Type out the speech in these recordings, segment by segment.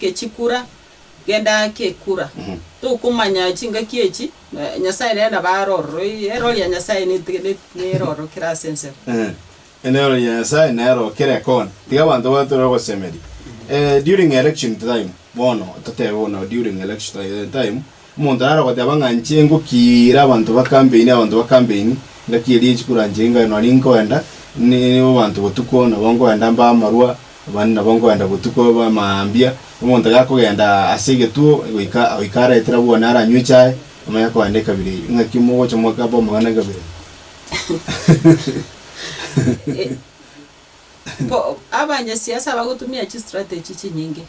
Kechikura, genda kekura. Tokomanya chingaki echi, Nyasae nere nabo aroro, eroro ria Nyasae neroro kera ase ensemo. Eroro ria Nyasae neroro kera ekona. Tiga abanto baye tore ogosemeria during election time, bono totebe bono during election time. Omonto naro ogoteba ng'a inche ngokiira abanto ba kampeini, abanto ba kampeini, ngakiiria inche kura inche ingae nonye ninkoenda nibo abanto botuko, nabo nkoenda mbae amarwa, abande nabo nkoenda botuko babe mambia. Omonto gakogenda ase egetuo goika oika araetera abwo one aranywe echae, onye akoenda ekabira eyio, ng'aki mogocha mokabe amang'ana ekabira eyio? Ko abanyasiasa bagotumia chistrategy chinyinge.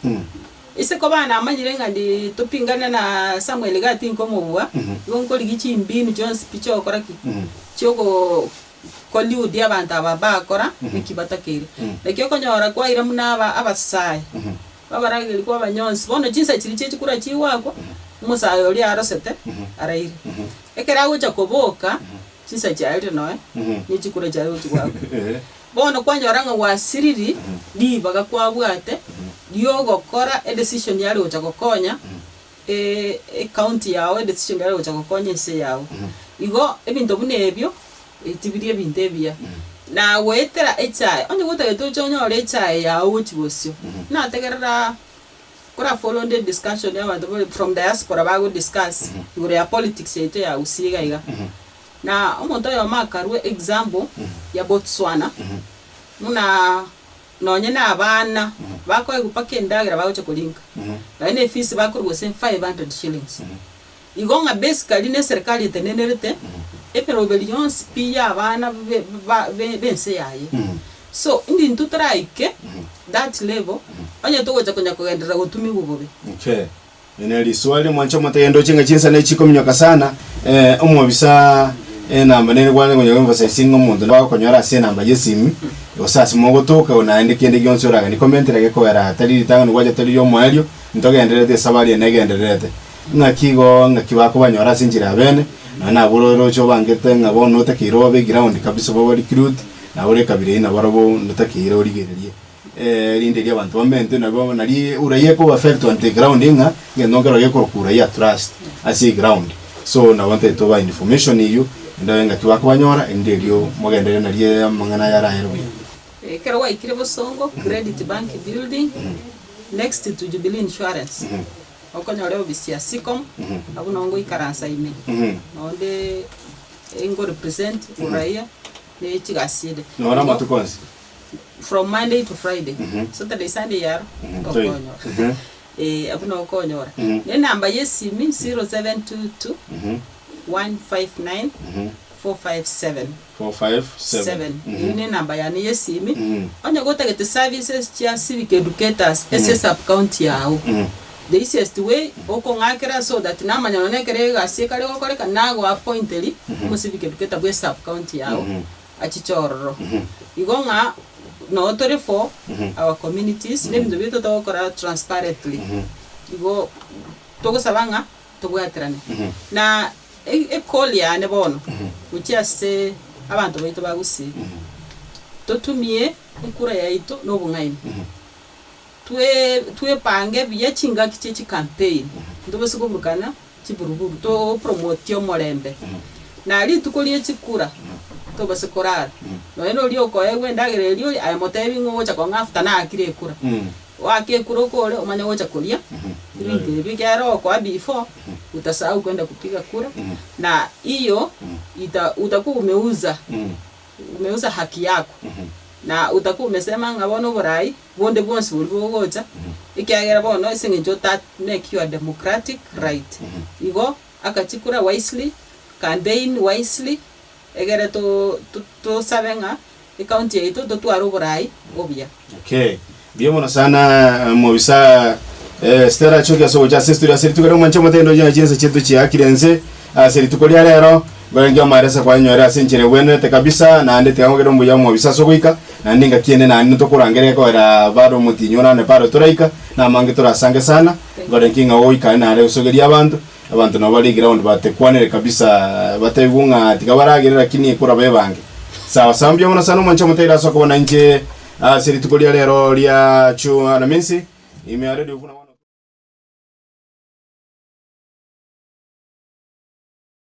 Ise koba namanyire ng'a ndi topingane na Samuel iga ati nkomobua, igo nkorigia chimbinu chionsi pi chiogokora ki? Chiogo collude abanto aba bakora eki batakeire. Naki okonyora kwaira buna aba abasae babarageri kwa abanyonsi, bono chinsa chiria chie chikura chigoakwa, omosae oria arosete araire. Ekero agocha koboka. chinsa chiaye ri noe, ne chikure chiaye gochia gwakwa. Bono kwanyora ng'a gwasiriri ribaga kwabwate riogokora edecision yari gocha gokonya ecounty yao, edecision yari gocha gokonya ense yao. Igo ebinto buna ebio tibiri ebinto ebiya. Na goetera echae, onye gotagete oche onyore echae yao gochia bosio, nategerera. Kora follow nde discussion ya abanto bari from diaspora bago discuss igoro ya politics yaito ya Gusii iga iga. Na omonto oyomo akarua example ya Botswana buna nonye na abana bakoegwa mpaka endagera bagocha koringa nonye na efees bakorwa gose five hundred shillings. Igo ng'a Besikari n'eserekari etenenerete emeroberi yonsi pi y'abana b'ense yaye. So intintwo teraike that level onye togocha konya kogenderera gotumiwa bobe. Okay. Eri nere risoa rire mwanche omonto ayendoche ng'a chinsa ne chikominyoka sana, eh, omobisa enamba nere kware konya emphasizing ng'a omonto nabo agokonyora ase enamba y'esimi, gose ase mogotoka o naende kende gionsi oraganie comment rage kogera tari ritang'ani gwacha tari riomoerio, ntogendererete esabari eye negendererete. Ng'aki igo ng'aki bakobanyora ase enchera yabeene, nonya nabo ore orooche obangete ng'a bono otakeire obe eground kabisa obe obarecruit, nabo ore ekabira eyio nabarabwo notakeire origererie erinde erio abanto bamentwe nabo nari uraia ekoba affect on the ground ng'a egento nkero gekorokwa uraia at last ase eground. So nabo ntagete tobae information eyio ende oye ng'aki bakobanyora erinde erio mogenderere nario amang'ana ayio arayere buya. Ekero gwaikire Bosongo, Credit Bank Building, next to Jubilee Insurance. okonyore obisia sicom abwo noo ngoikaransa ime noo nde engo represent uraia ne chigasi ede Noro amatuko onsi. from Monday to Friday Saturday Sunday yaro tokonyora eh abwo noo okonyora ne enamba ya esimi 0722 159 457. 7, Eyio nenamba yane yesimi. Onye gotagete services chia civic educators ase sub county yao, the easiest way okong'akera so that namanya nonya ekero egasi ekare gokoreka nago appointeri omo civic educator bwe sub county yao achiche ororo. Igo ng'a noo tore for our communities, nebinto biaito togokora transparently. Igo togosaba ng'a Tobwaterane na equal yane bono gochia ase abanto baito ba Gusii, totumie ekura yaito na obong'aini, twepange buya chingaki chie chicampaign, ntobose koburukana chiburuburu, topromotie omorembe, na rituko rie chikura tobase korara nonya noria okoegwa endagera eria ore aye motebi ng'a ogocha kong'a after naakire ekura. Oakekure oko ore omanye gocha koria ebinto ebi ekero okoa before utasahau kwenda kupiga kura na hiyo ita utakuwa umeuza umeuza haki yako na utakuwa umesema ng'a bono oborai bonde bwonsi boria bogocha ekiagera bono ase eng'encho ota make your democratic right igo aka chikura wisely campaign wisely. Egere tosabe ng'a ecounty yaito totware oboraai obuya. Okay. Mbuya mono sana mobisa eh, Stella achoki ase ogocha ase estudio ase rituko ria omwancha omotendi onye chinsa chiaito chiakire ense ase rituko ria rero ngorange omaresa kwanyore ase enchera egwenerete kabisa naende tiga ngogere ombuya omobisa ase ogoika naende engaki ende naende tokorangere egoera bare omotinyi onande paro toraika namange torasange sana ngoranki ng'a ogoika naende osogeria abanto Abanto nabo bare egraund batekwanere kabisa bataigwe ng'a tiga baragere lakini ekoraba ebange. Sawa sawa mbuya mono sana omwancha omotaira ase okobana inche ase rituko ria rero ria chu alamisi ime are dio buna bono.